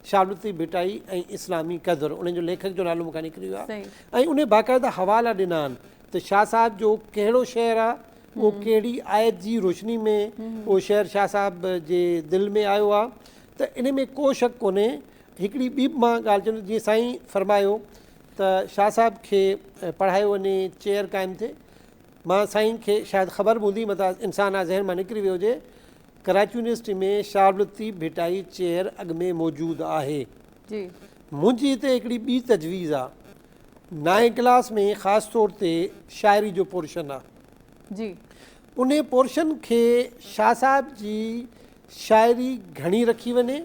S4: شاهه عبداللطيف ڀٽائي ۽ اسلامي قدر. ان جو ليکڪ جو نالو مون کان نڪري ويو آهي ۽ انهي باقاعده حوالا ڏنا آهن ته شاهه صاحب جو ڪهڙو شعر آهي اهو ڪهڙي آيت جي روشني ۾ اهو شعر شاهه صاحب جي دل ۾ آيو آهي ته انهي ۾ ڪو شڪ ڪونهي. هڪڙي ٻي به مان ڳالهه چوندس جيئن سائين فرمايو ته شاهه صاحب کي پڙهايو وڃي چيئر قائم ٿئي مان سائين کي شايد خبر به هوندي متان انسان آ ذهن مان نڪري ويو هجي ڪراچي يونيورسٽي ۾ شاهه عبداللطيف ڀٽائي چيئر اڳ ۾ موجود آهي جي منهنجي هتي هڪڙي ٻي تجويز آ نائين ڪلاس ۾ خاص طور تي شاعري جو پورشن آ جي انهي پورشن کي شاهه صاحب جي شاعري گهڻي رکي وڃي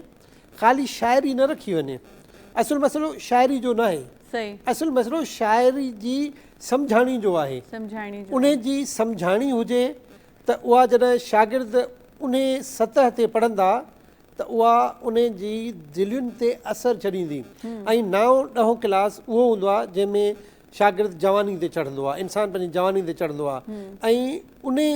S4: خالي شاعري نه رکي وڃي. اصل مسئلو شاعري جو ناهي. اصل مسئلو شاعري جي سمجهاڻي جو آهي. انهي جي سمجهاڻي هجي ته اها جڏهن شاگرد انهي سطح تي پڙهندا ته اها انهي جي دلين تي اثر ڇڏيندي. ۽ نائون ڏهون ڪلاس اهو هوندو آهي جنهن ۾ شاگرد جواني تي چڙهندو آهي. انسان پنهنجي جواني تي چڙهندو آهي. ۽ انهي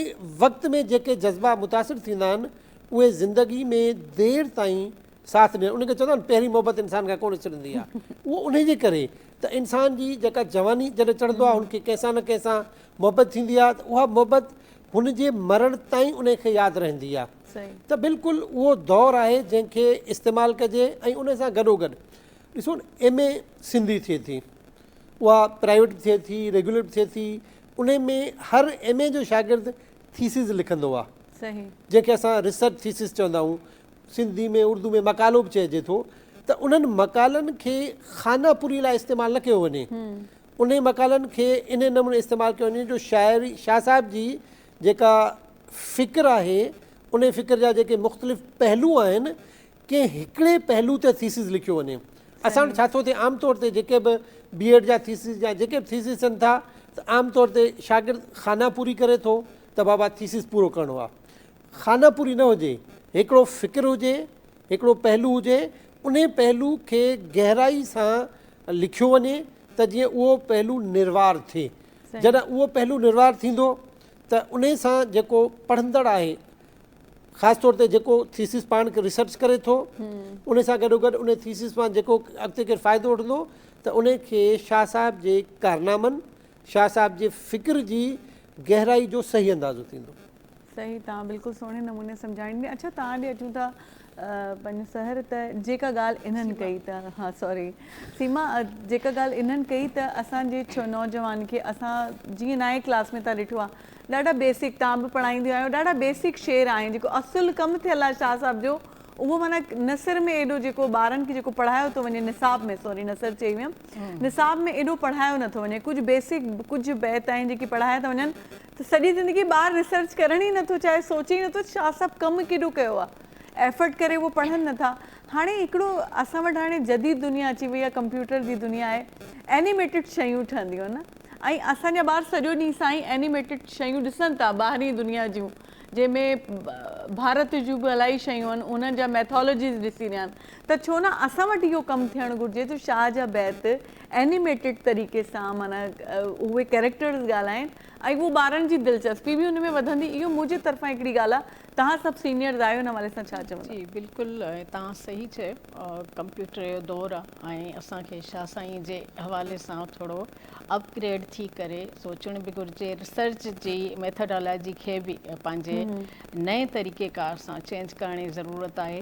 S4: وقت ۾ جيڪي جذبا متاثر ٿيندا آهن اهي زندگي ۾ دير تائين ساٿ ڏين ان کي چوندا آهن پهرين محبت انسان کان ڪونه ڇڏندي آهي اهو انهي جي ڪري ته انسان جي جيڪا جواني جڏهن چڙهندو آهي ان کي ڪنهن سان نه ڪنهن سان محبت ٿيندي آهي ته اها محبت هن جي مرڻ تائين انهي کي ياد رهندي آهي ته بلڪل اهو دور آهي جنهن کي استعمال ڪجي ۽ انهي سان گڏو گڏ ڏسو ايم اي سنڌي ٿئي ٿي اها پرائيويٽ به ٿئي ٿي ريگيولر به ٿئي ٿي انهي ۾ هر ايم اي جو شاگرد ٿيسز لکندو هو صحيح جنهن کي
S1: اسان ريسرچ
S4: ٿيسز چوندا آهيون سنڌي ۾ اردو ۾ مقالو به چئجي ٿو ته انهن مقالن کي خانه پوري لاء استعمال نه ڪيو وڃي انهي مقالن کي انهي نموني استعمال ڪيو وڃي جو شاعر شاهه صاحب جي جيڪا فڪر آهي انهي فڪر جا جيڪي مختلف پهلو آهن ڪنهن هڪڙي پهلو تي ٿيسز لکيو وڃي. اسان وٽ ڇا ٿو ٿئي عام طور تي جيڪي به بي ايڊ جا ٿيسز يا جيڪي به ٿيسز ٿين ٿا ته عام طور تي شاگرد خانه پوري ڪري ٿو ته بابا ٿيسز پورو ڪرڻو آ. خانه پوري نه هجي هڪڙو فڪر هجي هڪڙو پهلو هجي انهي پهلو کي گهرائي سان لکيو وڃي ته جيئن اهو پهلو نروار ٿئي. جڏهن اهو پهلو نروار ٿيندو ته انهي سان جيڪو پڙهندڙ آهي خاص طور تي جيڪو ٿيسز پاڻ کي ريسرچ ڪري ٿو ان سان گڏو گڏ ان ٿيسز مان جيڪو اڳتي ڪير فائدو وٺندو ته ان کي شاهه صاحب جي ڪارنامن شاهه صاحب جي فڪر جي گهرائي جو صحيح اندازو ٿيندو. صحيح توهان
S1: بلڪل سهڻي نموني سمجهائين ۾ اڇا توهان ڏي اچون ٿا پنهنجو سحر ته جيڪا ڳالهه انهن ڪئي ته ها سوري سيما جيڪا ڳالهه انهن ڪئي ته اسان جي نوجوان کي اسان جيئن نائين ڪلاس ۾ تان ڏٺو آهي ڏاڍا بيسڪ تان به پڙهائينديون آهيو ڏاڍا بيسڪ شعر آهن جيڪو اصل ڪم ٿيل آهي شاهه صاحب جو اهو معنيٰ نثر ۾ ايڏو جيڪو ٻارن کي جيڪو پڙهايو ٿو وڃي نصاب ۾ سوري نثر چئي ويم نصاب ۾ ايڏو پڙهايو نٿو وڃي ڪجهه بيسڪ ڪجهه بيت آهن جيڪي پڙهايا ٿا وڃن ته سڄي زندگي ٻار ريسرچ ڪرڻ ئي نٿو چاهي سوچي ئي نٿو شاهه صاحب ڪم ڪيڏو ڪيو آهي ايفرٽ ڪري اهو پڙهن نٿا هاڻي هڪڙو اسان وٽ هاڻي جديد دنيا اچي وئي آهي ڪمپيوٽر جي دنيا آهي اينيميٽيڊ شيون ٺهنديون آهن نه ۽ اسان جا ٻار سڄو ڏينهن سائين اينيميٽيڊ شيون ڏسن ٿا ٻاهرين دنيا جون جنهن ۾ ڀارت جون به الائي شيون آهن انهن جا ميٿالوجيز ڏسي رهيا آهن ته ڇو نه اسان وٽ اهو ڪم ٿيڻ گهرجي ته شاهه جا بيت اينيميٽيڊ طريقي سان معنيٰ اهي ڪيريڪٽرز ڳالهائين ۽ اهو ٻارن جي دلچسپي به ان ۾ وڌندي اهو منهنجي طرفان هڪڙي ڳالهه آهي توهان سڀ سينيئرز آهيو ان حوالي سان ڇا چوندا؟ جي بلڪل
S3: توهان صحيح چيو. ڪمپيوٽر جو دور آ ۽ اسان کي شاھ سائين جي حوالي سان ٿورو اپ گريڊ ٿي ڪري سوچڻ به گهرجي ريسرچ جي ميٿاڊالاجي کي به پنهنجي نئين طريقي ڪار سان چينج ڪرڻ جي ضرورت آهي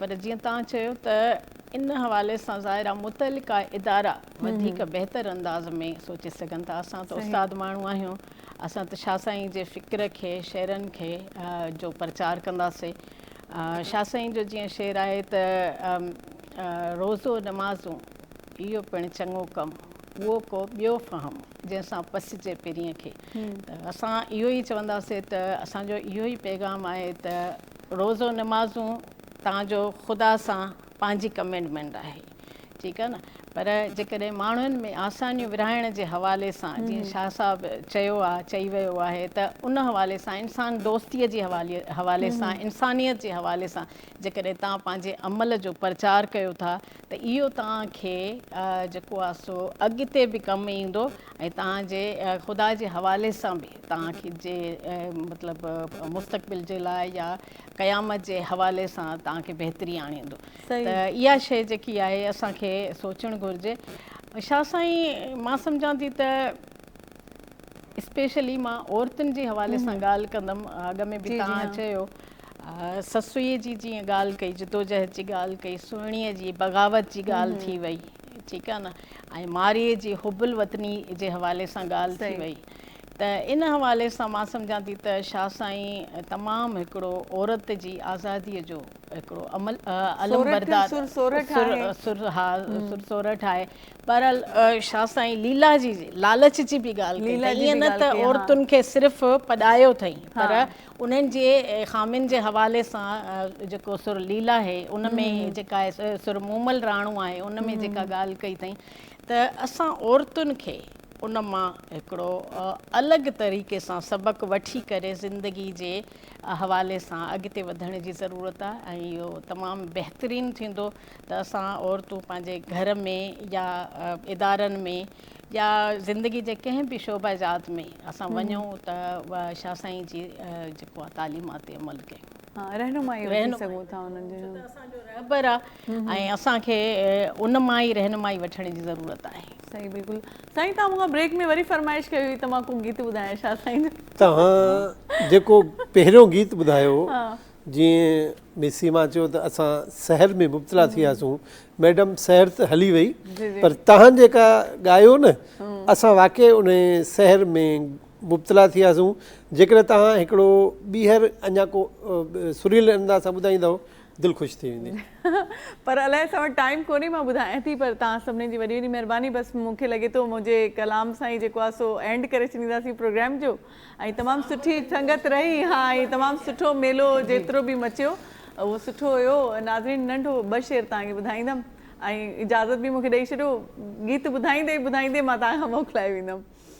S3: پر جيئن تان چيو ته ان حوالي سان ظاهر آ متعلقه ادارا وڌيڪ بهتر انداز ۾ سوچي سگهن ٿا اسان ته استاد ماڻهو آهيون اسان ته شاھ سائين جي فڪر کي شعرن کي جو پرچار ڪنداسي شاهه سائين جو جيئن شعر آهي ته روزو نمازون اهو پڻ چڱو ڪم اهو ڪو ٻيو فهم جنهن سان پسجي پرينء کي ته اسان اهو ئي چونداسين ته اسان جو اهو ئي پيغام آهي ته روزو نمازون تان جو خدا سان پنهنجي ڪمينٽمينٽ آهي ٺيڪ آهي نه پر جيڪڏهن ماڻهن ۾ آسانيون ورهائڻ جي حوالي سان جيئن شاهه صاحب چيو آهي چئي ويو آهي ته ان حوالي سان انسان دوستي جي حوالي سان انسانيت جي حوالي سان جيڪڏهن توهان پنهنجي عمل جو پرچار ڪيو ٿا ته اهو توهان کي جيڪو آهي سو اڳتي به ڪم ايندو ۽ توهان جي خدا جي حوالي سان به توهان کي جي مطلب مستقبل جي لاء يا قيامت جي حوالي سان توهان کي بهتري آڻيندو ته اها شيء جيڪي آهي اسان کي سوچڻ گهرجي شاهه سائين مان سمجهان ٿي ته اسپيشلي مان عورتن جي حوالي سان ڳالهه ڪندم اڳ ۾ به توهان چيو سسئي جي جيئن ڳالهه ڪئي جدوجهد جي ڳالهه ڪئي سهڻي جي بغاوت جي ڳالهه ٿي وئي ٺيڪ آهي نه ۽ مارئي جي حب الوطني جي حوالي سان ڳالهه ٿي وئي ته ان حوالي سان مان سمجهان ٿي ته شاهه سائين تمام هڪڙو عورت جي آزادي جو هڪڙو علمبردار سر سورٺ آهي. بهرحال شاهه سائين ليلا جي لالچ جي به ڳالهه ڪئي ته ائين نه ته عورتن کي صرف پڄايو اٿئي پر انهن جي خامين جي حوالي سان جيڪو سر ليلا هي ان ۾ جيڪا سر مومل راڻو آهي ان ۾ جيڪا ڳالهه ڪئي اٿئي ته اسان عورتن کي ان مان هڪڙو الڳ طريقي سان سبق وٺي ڪري زندگي جي حوالي سان اڳتي وڌڻ جي ضرورت آهي ۽ اهو تمام بهترين ٿيندو ته اسان عورتون پنهنجي گهر ۾ يا ادارن ۾ يا زندگي جي ڪنهن به شعبه جات ۾ اسان وڃون ته شاهه سائين جي جيڪو تعليمات عمل ڪيون رهنمائي وٺي
S1: سگهون ٿا انهن جي. ڇو ته
S3: اسان جو رهبر آ ۽ اسان کي ان مان ئي رهنمائي وٺڻ جي ضرورت آهي. صحيح بلڪل
S1: سائين توهان مون کان بريڪ ۾ وري فرمائش ڪئي هئي ته مان ڪو گيت ٻڌايان شاهه سائين جو. توهان
S4: جيڪو پهريون گيت ٻڌايو جيئن مس سيما چيو ته اسان سحر ۾ مبتلا ٿي وياسون ميڊم سحر ته هلي وئي پر توهان جيڪا ڳايو نه اسان واقعي انهي سحر ۾ مبتلا ٿياسون جيڪڏهن توهان هڪڙو ٻيهر اڃا ڪو سريل انداز سان ٻڌائيندؤ دل خوش ٿي ويندي. پر الائي
S1: اسان وٽ ٽائيم ڪونهي مان ٻڌايان ٿي پر توهان سڀني جي وڏي وڏي مهرباني بس مون کي لڳي ٿو منهنجي ڪلام سان ئي جيڪو آهي سو اينڊ ڪري ڇڏينداسين پروگرام جو ۽ تمام سٺي سنگت رهي ها ۽ تمام سٺو ميلو جيترو به مچيو اهو سٺو هيو ناظرين ننڍو ٻه شعر توهان کي ٻڌائيندم ۽ اجازت به مون کي ڏئي ڇڏيو گيت ٻڌائيندي ٻڌائيندي مان توهان کان موڪلائي ويندم.